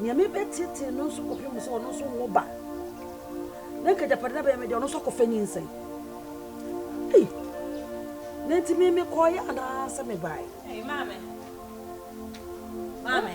Nea mebeteetee no nso kɔpem sɛ ɔno nso nwo ba, na anka agyapade no abɛyɛ me dea, ɔno nso akɔfa nyinsɛn. Ei! Na enti me mekɔeɛ anaasɛ mebaeɛ? Ei, Maame! Maame!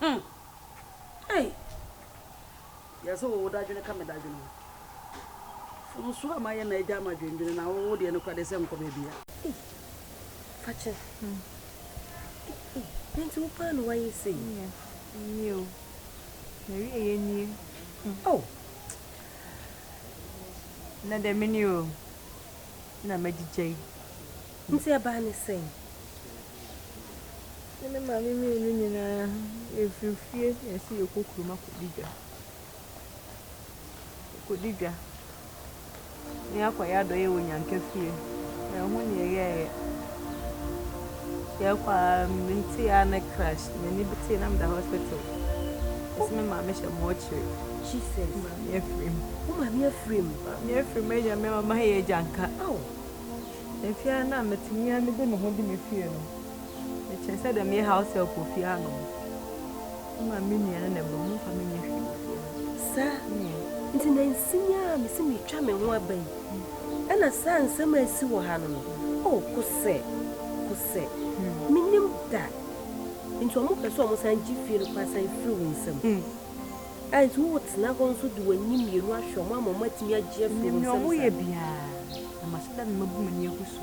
Hmm. Ei! Yɛ sɛ wo dadwene ka me dadwene ho. Fonso a mayɛ na agya ama dwendwene na wo deɛ nokora deɛ sɛ nkɔ baabiara. Ei! Fakyɛ. Hmm. Ei! Nanti wo paa na wayɛ sei. Nyɛ. Nyɛ o. Marie yɛ nie. Hmm. Oh! Nnɛ deɛ mene o. Na magyigya yi. Nti ɛbaa ne sɛn? Me ne maame mmienu nyinaa, yɛfiri fie na yɛse yɛkɔ kurom akɔdi dwa. Yɛkɔdi dwa na yɛakɔyɛ adɔeɛ wɔ Nyanka fie. Yɛho ne yɛyɛeɛ. Yɛkɔ a mente a ne crash. M'ani betee na meda hospital. Yɛse me maame hyɛ mɔɔkyere. Jesus. Maame afirim. Wo maame afirim. Maame afirim agya me mama yɛ agyanka. Oh. Mfe a nna metumi ara mede me ho gye me fie no, mekyerɛ sɛ dɛ meyɛ house-help wɔ fie ha no, mma me nua no na ɛba mu, mfa menyɛ hwee wɔ fie ha. Saa nti nansi yi ara a mese meretwa me ho aba yi, ɛna saa nsɛm a esi wɔ ha no no, oh, kosɛ, kosɛ, mennim da nti wɔpɛ sɛ wɔsan gye fie no kɔ asan firi wo nsam. a nti wotena hɔ nso de w'ani mmienu ahwɛ wɔn ama wɔatumi agye afiri wo nsam saa? Menim nea wɔyɛ biara, na mahyɛ da na mabu m'ani agu so.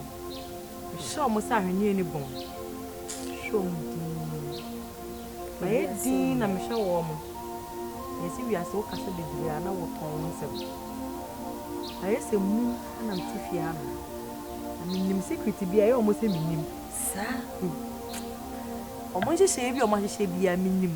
Mehyɛ wɔn sɛ ahweneɛ ne bɔn. Mehwɛ wɔn dinn. Mayɛ dinn na mehwɛ wɔn. Ɛyɛ sɛ wiase wo kasa bebree a na wotɔn wo nsɛm. Ayɛ sɛ mum na mete fie ha no. Na menim secret bi a ɛyɛ wɔn sɛ mennim. Saa? Wɔn nhyehyɛeɛ bi a wɔahyehyɛ biara menim.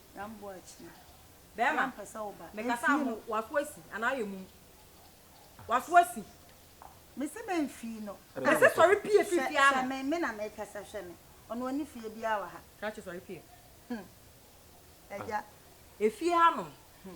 Bɛɛma, mekasa ho, w'aso asi anaa ayɛ mum? W'aso asi. Mese bɛ mfii no. Mese sɔre pie firi fie ha. Hwɛ me, me na mekasa, hwɛ me. Ɔno ɔne fie biara wɔ ha. Krachi sɔre pie. Hm, agya. Efie ha nom.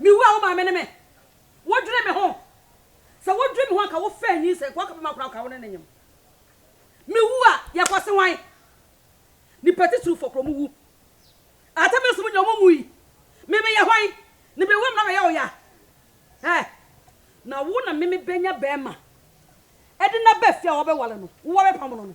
Me wura wo maame ne me wodwene me ho sɛ wodwene me ho anka wo fɛ nyinsɛn kɔ aka bɛma akora woka wo ne ne nyem me wu a yɛ kɔ se wan nipa titiriw fɔ kuro mo wu ata me nso mo nyɛ ɔmo mu yi me me yɛ hwan ne bɛ wam na bɛyɛ oya ɛ na wo na me me bɛnya bɛma ɛde na bɛ fi a wɔbɛwale no wo wɔbɛpam no no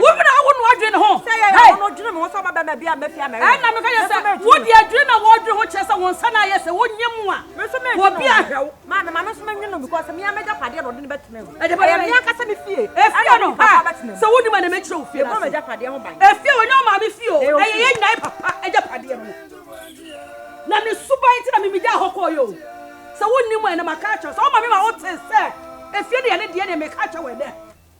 Wo werɛ awo no adwene ho. Ɛnna mekaeɛ sɛ, Wo deɛ, adwene na woredwene ho kyerɛ sɛ wo nsa no ayɛ sɛ wonyɛ mu a obi ahwɛ wo. Efie no, sɛ wonim a na mɛkyerɛ wo fie no ase. Efie wɔ nyɛ ɔmaame fie o, ɛyɛ yɛn nyinaa papa agyapadeɛ no. Na ne suban nti na memegyaa hɔ kɔeɛ o. Sɛ wonim a ɛnɛ maka akyerɛ wo. Sɛ woma me ma wote sɛ efie no yɛ ne deɛ ne meka akyerɛ wo ɛnɛ.